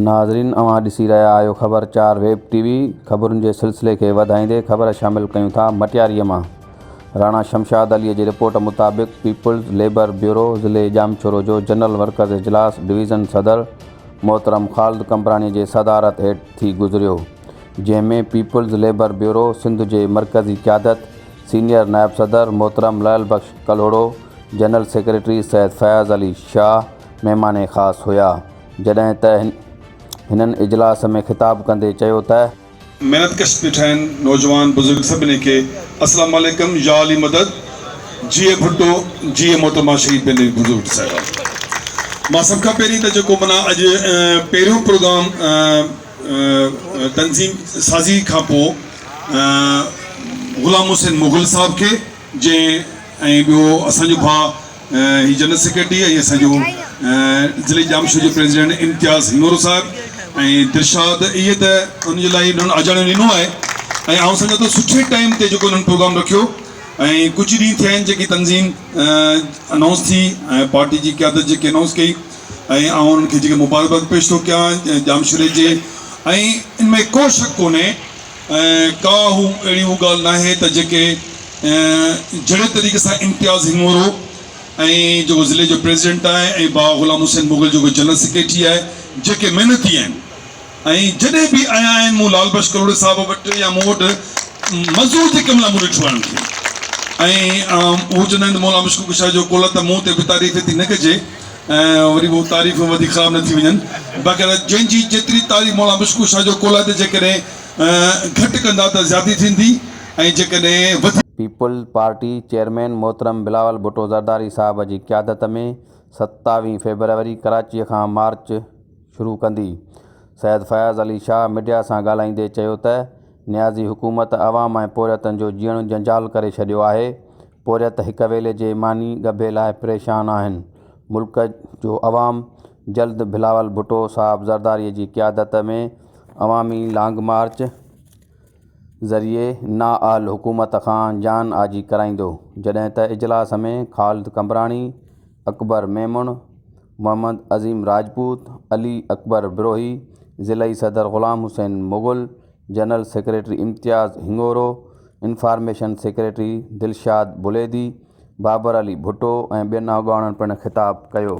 ناظرين اوهان ڏسي رهيا آهيو خبر چار ويب ٽي وي خبرن جي سلسلي کي وڌائيندي خبر شامل ڪيون ٿا مٽياري مان راڻا شمشاد عليء جي رپورٽ مطابق پيپلز ليبر بيورو ضلعي ڄامشورو جو جنرل ورڪرز اجلاس ڊويزن صدر محترم خالد قمبراڻي جي صدارت هيٺ ٿي گذريو جنهن ۾ پيپلز ليبر بيورو سنڌ جي مرڪزي قيادت، سينيئر نائب صدر محترم لعل بخش ڪلهوڙو، جنرل سيڪريٽري سيد فياض علي شاهه مهمان خاص هيا جڏهن ته هنن اجلاس ۾ خطاب ڪندي چيو ته. محنت ڪش پيٺاهن نوجوان بزرگ سڀني کي اسلام عليڪم يا علي مدد جيئي ڀٽو جيئي محترمه شريف بيني بزرگ صاحبان مان سڀ کان پهرين ته جيڪو منا اڄ پهريون پروگرام تنظيم سازي کان پو غلام حسين مغل صاحب کي جنهن ۽ ٻيو اسان جو ڀاء هي جنرل سيڪريٽري ۽ اسان جو ضلعي ڄامشوري جو پريزيڊنٽ امتياز هنڱورو صاحب ۽ درشاد اهي ته ان جي لاء انهن اجاڻيو ڏنو آهي ۽ آئون سمجهان ٿو سٺي ٽائيم تي جيڪو انهن پروگرام رکيو ۽ ڪجهه ڏينهن ٿيا آهن جيڪي تنظيم انائونس ٿي ۽ پارٽي جي قيادت جيڪي انائونس ڪئي ۽ آئون انهن کي جيڪي مبارڪباد پيش ٿو ڪيان ڄامشوري جي ۽ ان ۾ ڪو شڪ ڪونهي ۽ ڪا هو اهڙي هو ڳالهه ناهي ته جيڪي جهڙي طريقي سان امتياز هنڱورو ۽ جيڪو ضلعي جو پريزيڊنٽ آهي ۽ باوا غلام حسين مغل جيڪو جنرل سيڪريٽري آهي جيڪي محنتي آهن ۽ جڏهن به آيا آهن مون لال بخش ڪلهوڙي صاحب وٽ يا مون وٽ مزور جي ڪم لاء مون ڏٺو آهي انهن کي ۽ هو چوندا آهن ته مولا مشڪوڪ شاهه جو ڪلهه ته مون تي به تعريف ايتري نه ڪجي ۽ وري به اهي تعريفون وڌيڪ خراب نه ٿي وڃن. باقاعده جنهن جي جيتري تعريف مولانا مشڪوح شاهه جو قول آهي ته جيڪڏهن گهٽ ڪندا ته زيادتي ٿيندي ۽ جيڪڏهن وڌيڪ. پيپلز پارٽي چيئرمين محترم بلاول ڀٽو زرداري صاحب جي قيادت ۾ ستاويهه فيبروري ڪراچيء کان مارچ شروع ڪندي. سيد فياض علي شاهه ميڊيا سان ڳالهائيندي چيو ته نيازي حڪومت عوام ۽ پورهيتن جو جيئڻ جنجال ڪري ڇڏيو آهي، پورهيت هڪ ويلي جي ماني ڳڀي لاء پريشان آهن، ملڪ جو عوام جلد بلاول ڀٽو صاحب زرداري جي قيادت ۾ عوامي لانگ مارچ ذريعي نااهل حڪومت کان جان آجي ڪرائيندو، جڏهن ته اجلاس ۾ خالد قمبراڻي، اڪبر ميمڻ، محمد عظيم راجپوت، علي اڪبر بروهي، ضلعي صدر Ghulam Hussain Mughal, general secretary Imtiaz Hingoro, information secretary Dilshad Buledi, Babar Ali Bhutto ۽ ٻين اڳواڻن پڻ خطاب ڪيو.